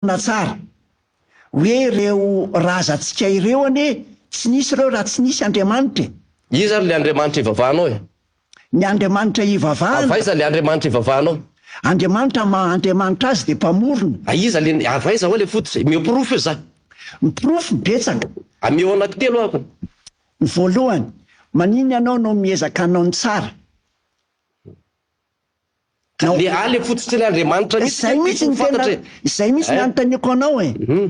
Marina tsara hoe ireo razantsika ireo anie tsy nisy ireo raha tsy nisy Andriamanitra e! Iza ary le Andriamanitra ivavahanao e? Ny Andriamanitra ivavahana. Avy aiza le Andriamanitra ivavahanao? Andriamanitra ny maha Andriamanitra azy dia mpamorona. A iza le, avy aiza hoa le fototra e? Omeo porofo io za. Ny porofo betsaka. Ameo anaky telo aho. Ny voalohany, maninona ianao no miezaka hanao ny tsara? Ka le ale fotsitry ny Andriamanitra mihitsy Zay anie mihitsy no tokony ho tena, fantatra e. zay mihitsy ny Hein? anontaniako anao e. Hum.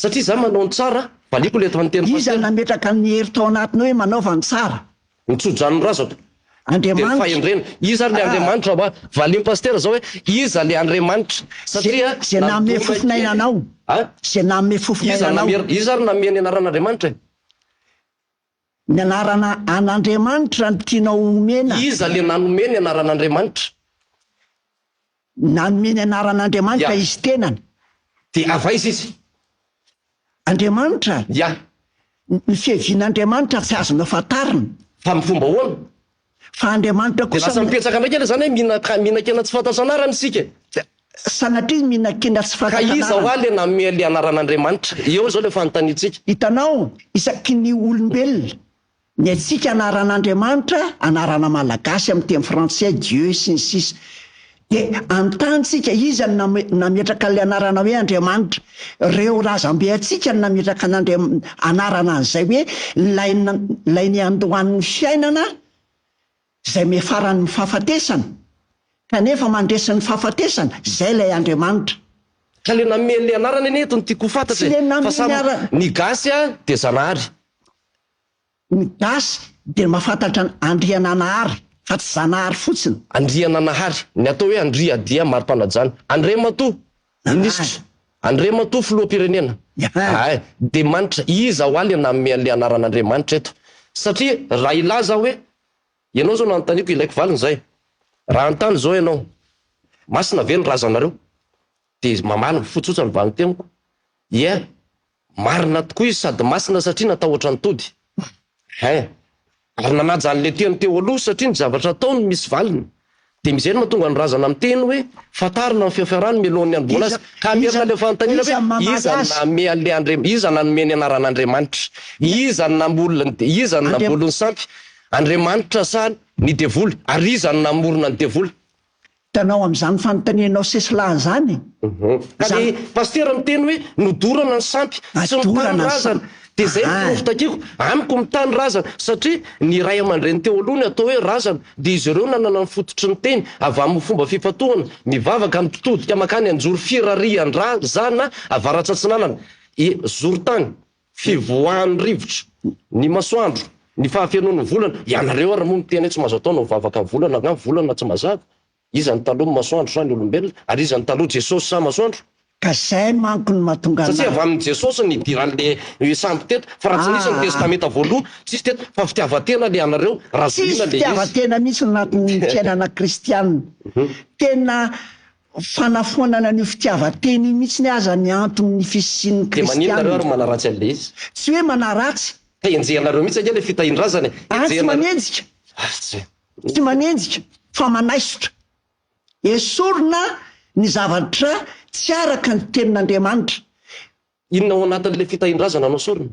Satria za manao ny tsara, valiako le efa niteny Iza no Pasteur. nametraka ny hery tao anatiny hoe manaova ny tsara? Ny tso-dranondrazako. Dia ny Andriamanitra. fahendrena. Iza ary le Ah. Andriamanitra hoa? Valian'i Pasteur zao hoe, iza le Andriamanitra? Satria Ze- ze nanome nandona fofona kely. ainanao. Hein? Ze nanome fofona Iza ainanao. namer- iza ary nanome ny anaran'Andriamanitra e? Ny anarana an' Andriamanitra no tianao homena? Iza le nanome ny anaran' Andriamanitra? Nanome ny anaran' Andriamanitra Yeah. Izy tenany. Dia avy aiza Izy? Andriamanitra? Yeah. Ny fiavian' Andriamanitra tsy azonao fantarina. Fa amin'ny fomba ahoana? Fa Andriamanitra kosa. Dia lasa mipetraka indray kely zany hoe mihinan-kena tsy fantatro anarana isika e! Sanatria mihinan-kena tsy fantatro anarana. Ka iza hoa le nanome le anaran'Andriamanitra? Eo izao le fanontaniantsika. Hitanao, isaky ny olombelona, ny antsika anaran'Andriamanitra, anarana malagasy amin'ny teny frantsay, Dieu, sy ny sisa. Dia hanontany tsika, iza no nametraka an'ilay anarana hoe Andriamanitra? Ireo razambe antsika no nametraka an'Andriam-, anarana an'izay hoe ilay, ilay niandohan'ny fiainana izay miafaran'ny fahafatesana, kanefa mandresy ny fahafatesana, izay ilay Andriamanitra. Ka le nanome an'le anarana anie eto no tiako ho fantatra e, fa samy ny gasy dia zanahary. Ny gasy dia mahafantatra an Andriananahary fa tsy Zanahary fotsiny. Andriananahary, ny atao hoe Andria dia mari-panajana. Andriamatoa Minisitra, Andriamatoa Filoham-pirenena, ahay, dia manitra, iza hoa le nanome an'le anaran'Andriamanitra eto? Satria raha hilaza aho hoe, ianao izao no anontaniako, ilaiko valiny izay. Raha hanontany izao ianao, masina ve ny razanareo? Dia mamaly mifotsotra ny valin-teniko, ie, Marina tokoa izy sady masina satria natahotra ny tody. Hein. Ary nanaja an'ilay teny teo aloha satria ny zavatra ataony misy valiny. Dia izay no mahatonga ny razana miteny hoe fantarina ny feo fiarahany mialohan'ny handoana azy. Ka hamerina ilay fanontaniana hoe iza no nanome an'ilay Andriamanitra, iza no nanome ny anaran'Andriamanitra, iza no namolona ny, iza no namboly ny sampy, Andriamanitra sa ny devoly, ary iza no namorona ny devoly. Hitanao amin'izany fanontanianao sesilany izany e! Ka le Pasitera miteny hoe nodorana ny sampy, tsy mitany razana, de zay ny porofo takiako, amiko mitany razana, satria ny ray aman-dreny teo aloha ny atao hoe razana, de izy ireo nanana ny fototry ny teny, avy amin'ny fomba fifantohana, mivavaka, mitodika makany anjoro firarian-drazana avarats'atsinanana, e, zoron-tany. fivoahan'ny rivotra, ny masoandro, ny fahafenoan'ny volana, ianareo ary moa miteny hoe tsy mahazo atao ny mivavaka ny volana, angaha volana tsy mazava? Iza no taloha, masoandro sa ny olombelona? Ary iza no taloha, Jesosy sa masoandro? Ka zay manko no mahatonga Satria avy amin'i Jesosy no idiran'le sambo teto, fa raha tsy nisy ny testamenta voaloha, tsisy teto, fa fitiavan-tena le anareo, razohina le izy. Tsisy fitiavan-tena mihitsy ny anatin'ny fiainana kristianina. Tena fanafoanana an'io fitiavan-tena io mihitsy aza ny anton'ny fisian'ny Kristianina. Dia maninona nareo ary manaratsy an'ilay izy? Tsy hoe manaratsy. Ka henjehanareo mihitsy ange ilay fitahin-drazana e! Ahy tsy manenjika. Tsy manenjika fa manaisotra. Esorina ny zavatra tsy araka ny Tenin'Andriamanitra. Inona ao anatin'ilay fitahin-drazana no sorona?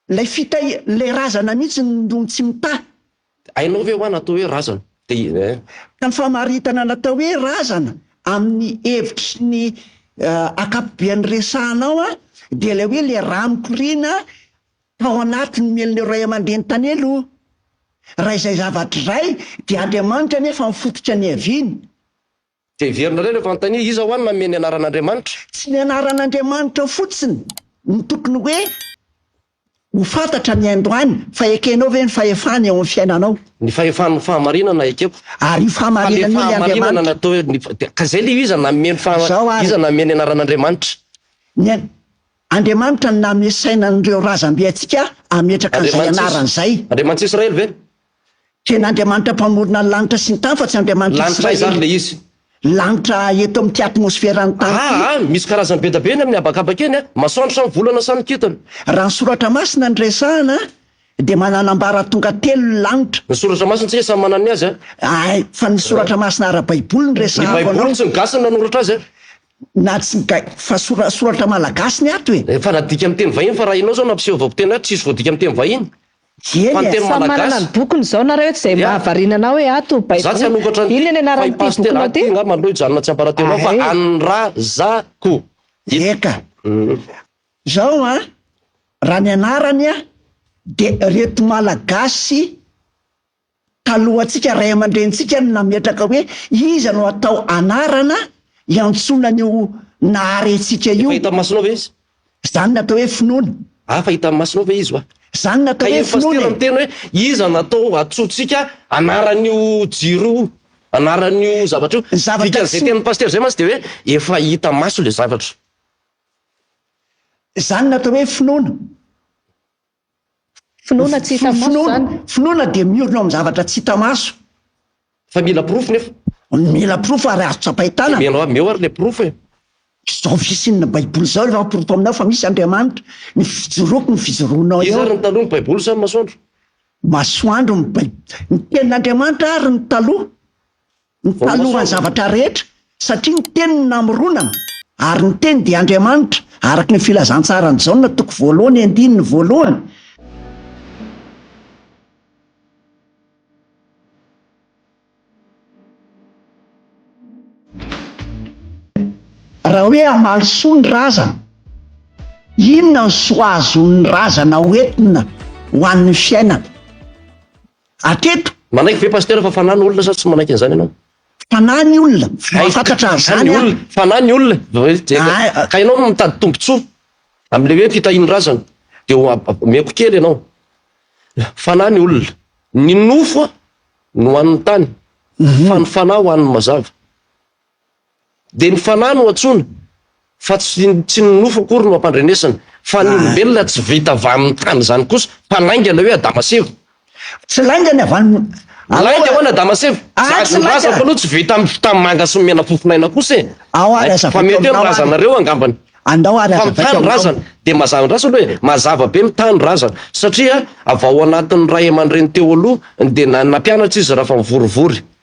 Ilay fitahi, ilay razana mihitsy no tsy mitahy. Hainao ve hoa ny atao hoe razana? Dia eh. Ka ny famaritana ny atao hoe razana amin'ny hevitry ny ankapobeany resahana ao an, dia ilay hoe ilay rà mikoriana tao anatin'ny mielin'ireo ray aman-dreny tany aloha. Raha izay zavatra izay, dia Andriamanitra anefa ny fototra niaviany. Dia heverinareo rehefa anontania, Iza ho any nanome ny anaran'Andriamanitra? Tsy ny anaran'Andriamanitra fotsiny no tokony hoe ho fantatra ny androany, fa ekenao ve ny fahefany eo amin'ny fiainanao? Ny fahefan'ny fahamarinana ekeko. Ary io fahamarinana io ny Andriamanitra. Fa le fahamarinana natao, ka izay le iza nanome ny fahamarinana, iza nanome ny anaran'Andriamanitra? Ny Andriamanitra no nanome saina an'ireo razambe antsika hametraka an'izay anarany izay. Andriamanits'Israely ve? Tena Andriamanitra mpamorona ny lanitra sy ny tany fa tsy Andriamanitra Israely. Lanitra aiza ary ilay izy? Lanitra eto amin'ity atmosferan'ny tany ity. Aa misy karazany be da be ny amin'ny habakabaka eny a! Masoandro sa ny volana sa ny kintana? Raha ny soratra masina no resahana dia mananambara tonga telo ny lanitra. Ny soratra masintsika samy manana ny azy a! Ay, fa ny soratra masina ara-baiboly no resahako anao. Ny baiboly tsy ny gasy no nanoratra azy a! Na tsy ny ga-, fa sora-, soratra malagasy ny ato e! Efa nadika amin'ny teny vahiny fa raha ianao izao nampiseo vaokiteny ato tsisy voadika amin'ny teny vahiny. Dieny e! Samy manana ny bokiny izao nareo eto izay mahavariana anao hoe ato baiboly inona ny anaran'ity bokinao ity? Ahay! Eka! Izao an! Raha ny anarany an dia reto malagasy talohantsika, ray aman-drenintsika no nametraka hoe iza no atao anarana hiantsoana an'io Nahary antsika io. Efa hitan'ny masonao ve izy? Izany no atao hoe finoana. Afa hitan'ny masonao ve izy hoa? Izany no atao hoe finoana e! Ka io pasitera miteny hoe iza no atao hantsointsika anaran'io jiro io, anaran'io zavatra io. Ny zavatra tsy. Dikan'izay tenin'ny pasitera izay mantsy dia hoe efa hita maso ilay zavatra. Izany no atao hoe finoana. Finoana tsy hita maso izany. Finoana dia miorina eo amin'ny zavatra tsy hita maso. Fa mila porofo nefa. Mila porofo ary azo tsapain-tanana. Dia omena amin'eo ary ilay porofo e. Izao fisian'ny Baiboly izao efa porofo aminao fa misy Andriamanitra. Ny fijoroako no fijoroanao eo. Iza ary ny taloha, ny Baiboly sa ny masoandro? Masoandro ny Baiboly. Ny tenin'Andriamanitra ary ny taloha. Ny talohan'ny zavatra rehetra, satria ny Teny no namoronana, ary ny Teny dia Andriamanitra, araka ny filazantsaran'i Jaona toko voalohany andininy voalohany. Raha hoe hamaly soa ny razana, inona no soa azon'ny razana hoentina ho an'ny fiainana? Hatreto. Manaiky ve Pasteur fa fanahy ny olona sa tsy manaiky an'izany ianao? Fanahy ny olona, mahafantatra an'izany aho. Fanahy ny olona, ka ianao no mitady tombotsoa amin'ilay hoe fitahian'ny razana dia omeko kely ianao. Fanahy ny olona, ny nofo no ho an'ny tany fa ny fanahy ho an'ny mazava. Dia ny fanahy no antsoina, fa tsy tsy ny nofo akory no ampandrenesina, fa ny olombelona tsy vita avy amin'ny tany izany kosa, fa lainga ilay hoe Adama sy Eva. Tsy lainga ny avy any. Lainga hono Adama sy Eva. Aah, tsy lainga. Ny razako aloha tsy vita amin'ny fitamanga sy ny menafofon-aina kosa e. Ao ary aza Fa mety hoe ny razanareo angambany. Andao ary aza vaika. Fa ny tany razana, dia mazava andraso aloha e, mazava be ny tany razana, satria avy ao anatin'ny ray aman-dreny teo aloha dia nampianatra izy raha fa mivorivory.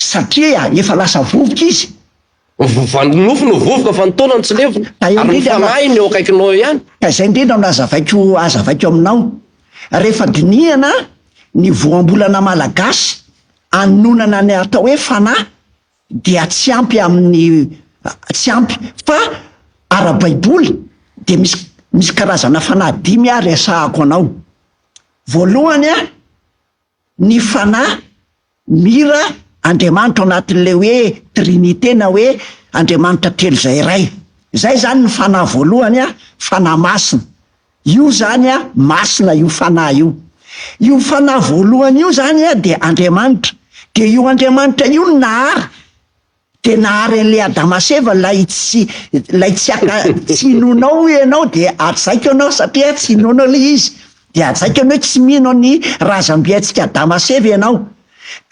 Satria efa lasa vovoka izy. Vovoka, ny nofo no vovoka fa ny taona no tsy levona. Ary ny fanahiny eo akaikinao eo ihany. Ka izay indrindra no azavaiko azavaiko aminao. Rehefa dinihana ny voambolana malagasy anonana ny atao hoe fanahy dia tsy ampy amin'ny tsy ampy fa ara-baiboly dia misy misy karazana fanahy dimy aho resahako anao. Voalohany a. ny Fanahy, Mira, Andriamanitra ao anatin'ilay hoe Trinite na hoe Andriamanitra telo izay iray. Izay izany ny Fanahy voalohany an, Fanahy Masina. Io izany an, Masina io Fanahy io. Io Fanahy voalohany io izany an dia Andriamanitra. Dia io Andriamanitra io no nahary. Dia nahary an'ilay Adama sy Eva ilay tsy, ilay tsy haka, tsy inoanao hoy ianao dia hajaiko ianao satria tsy inoanao ilay izy. Dia hajaiko ianao hoe tsy mino an'ny razambentsika Adama sy Eva ianao.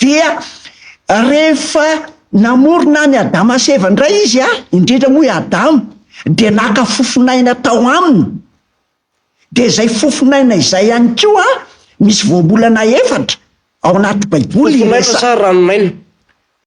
Dia rehefa namorona an'i Adama sy Eva indray izy an, indrindra moa i Adama, dia naka fofon'aina tao aminy. Dia izay fofon'aina izay ihany koa an, misy voambolana efatra ao anaty Baiboly Fofon'aina sa ranon'aina?